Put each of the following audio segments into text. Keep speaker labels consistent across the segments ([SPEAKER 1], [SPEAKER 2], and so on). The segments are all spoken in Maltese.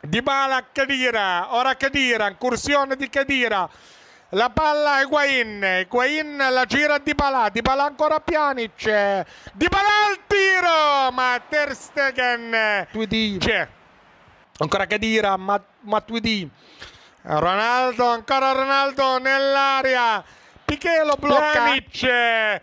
[SPEAKER 1] Dybala Khedira, ora Khedira, inkursjoni di Khedira. La palla Higuain, Higuain la gira Dybala, Dybala ancora Pjanic, Dybala il tiro ma Ter Stegen. Matuidi, ancora Khedira, Matuidi, Ronaldo, ancora Ronaldo nell'area, Piqué lo blocca. Pjanic,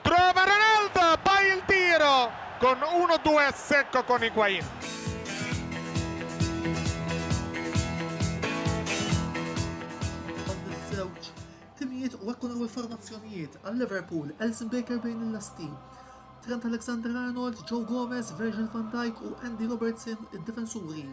[SPEAKER 1] Trova Ronaldo, poi il tiro, con uno due a secco con Higuain.
[SPEAKER 2] Dawn iż-żewġ timijiet wettqu l-ewwel formazzjonijiet għal Liverpool, Alisson Becker bejn il-lasti, Trent Alexander-Arnold, Joe Gomez, Virgil van Dijk u Andy Robertson id-difensuri,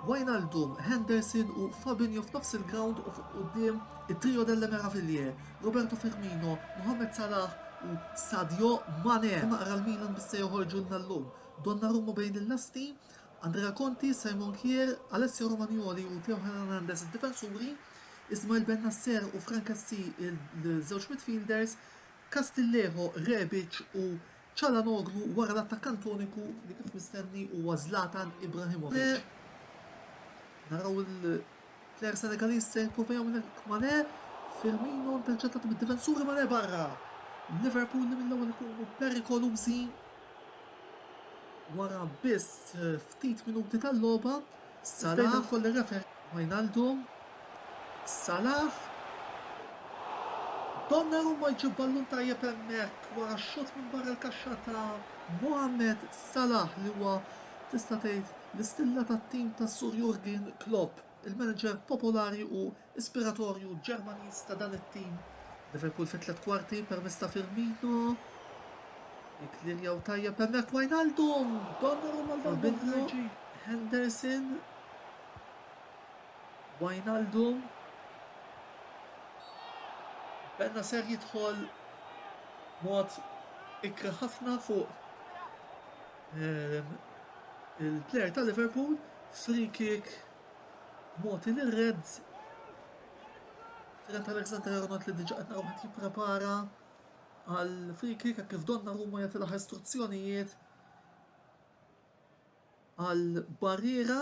[SPEAKER 2] Wijnaldum, Henderson u Fabinho f'nofs il-grawnd u fuq quddiem it-trio delle meraviglie, Roberto Firmino, Mohamed Salah u Sadio Mane huma qra l-Milan li se joħorġulna llum. Donnarumma bejn il-lasti, Andrea Conti, Simon Kjaer, Alessio Romagnoli u Theo Hernandez id-difensuri, Ismael Bennacer u Franck Kessie l-żewġ midfielders, Castillejo, Rebic u Çalhanoğlu wara l-attakkant uniku li kif mistenni huwa Zlatan Ibrahimovic. Mane, naraw il-plejer Senegaliż se jipprova jagħmel hekk Mane, Firmino interċettat mid-difensuri Mane barra. Liverpool li mill-ewwel ikunu perikolużi wara biss ftit minuti tal-logħba. Salah u l-referee Wijnaldum. Salah. Donnarumma jġib ballun tajjeb hemmhekk wara x-xutt minn barra l-kaxxa ta' Mohamed Salah li huwa tista' tgħid l-istilla tat-tim ta' Sur Jurgen Klopp, il-manager popolari u Ispiratorju Ġermaniż ta' dan it-tim, Liverpool fit-tliet kwarti permezz ta' Firmino, jikkliljjaw tajjeb hemmhekk Wijnaldum, Donnarumma Fabinho, Henderson, Wijnaldum, Bennacer jidħol mod ikra ħafna fuq il-plejer ta' Liverpool, free kick Mogħti lir-Reds, Trent Alexander-Arnold li diġà qed naraw qed jipprepara għal free kick hekk kif Donnarumma jagħti l-aħħar istruzzjonijiet għal Barriera.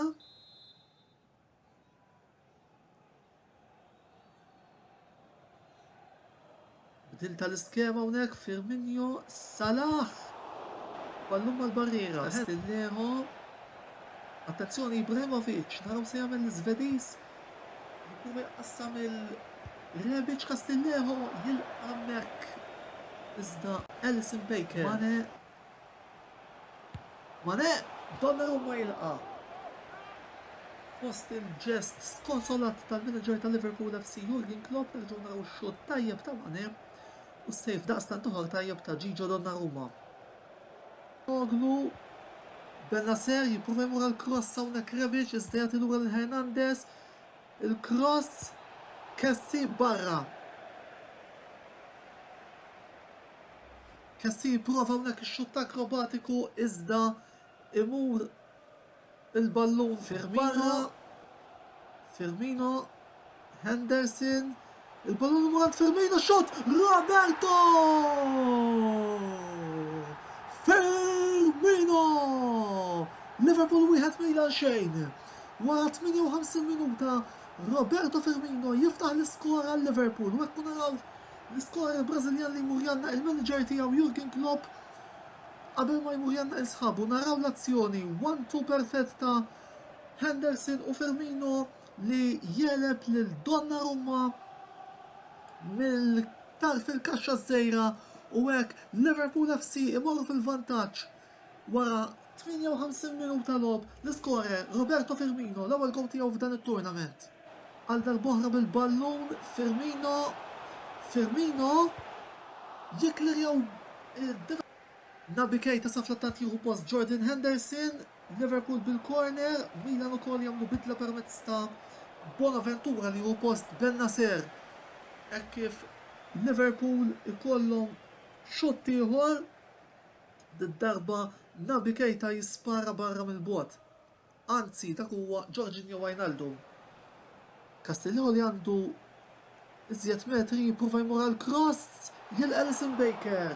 [SPEAKER 2] Bdil tal-iskema hawnhekk Firmino Salah. Ballun mal-barriera, Stinneħo. Attenzjoni Ibrahimovic, naraw se jagħmel l-Iżvediż. Jipprova jqassam il-Rebic Castillejo jilqa' hemmhekk. Iżda Alisson Baker. Mane Mané, b'Donnarumma jilqa' fost il-ġest skonsolat tal-manager ta' Liverpool FC Jurgen Klopp nerġgħu naraw xutt tajjeb ta' Mané u s-save daqstant oħra tajjeb ta' Gigio Donnarumma. Calhanoglu, Bennacer jipprova jmur għall-kross hawnhekk Rebic iżda jagħti lura lil Hernandez, il-kross, Kessie barra. Kessie jipprova hawnhekk ix-xutt akrobatiku iżda imur il-ballun barra. Firmino, Henderson, il-ballun imur għand Firmino, xutt Roberto! Firmino! Liverpool wieħed Milan xejn. Wara 58 minuta Roberto Firmino jiftaħ l-iskor għal Liverpool u hekk naraw L-iskorer Brażiljan li jmur jgħannaq il-manager tiegħu Jurgen Klopp qabel ma jmur jgħannaq lil sħabu. Naraw l-azzjoni, one-two perfett ta' Henderson u Firmino li jegħleb lil Donnarumma mill-iktar fil-kaxxa ż-żgħira u hekk Liverpool FC imorru fil-vantaġġ wara 58 minuta logħob. L-iskorer Roberto Firmino, l-ewwel gowl tiegħu f'dan it-tournament. Għal darb'oħra bil-ballun Firmino, Firmino jikklerja u d-difensur. Naby Keita sa fl-attakk jieħu post Jordan Henderson, Liverpool bil-korner, Milan ukoll jagħmlu bidla permezz ta' Bonaventura li jieħu post Bennacer hekk kif Liverpool ikollhom xutt ieħor, did-darba Naby Keita jispara barra mill-bogħod. Anzi dak huwa Jorginho Wijnaldum. Castillejo li għandu iżjed metri jipprova jmur għal cross lil Alisson Becker.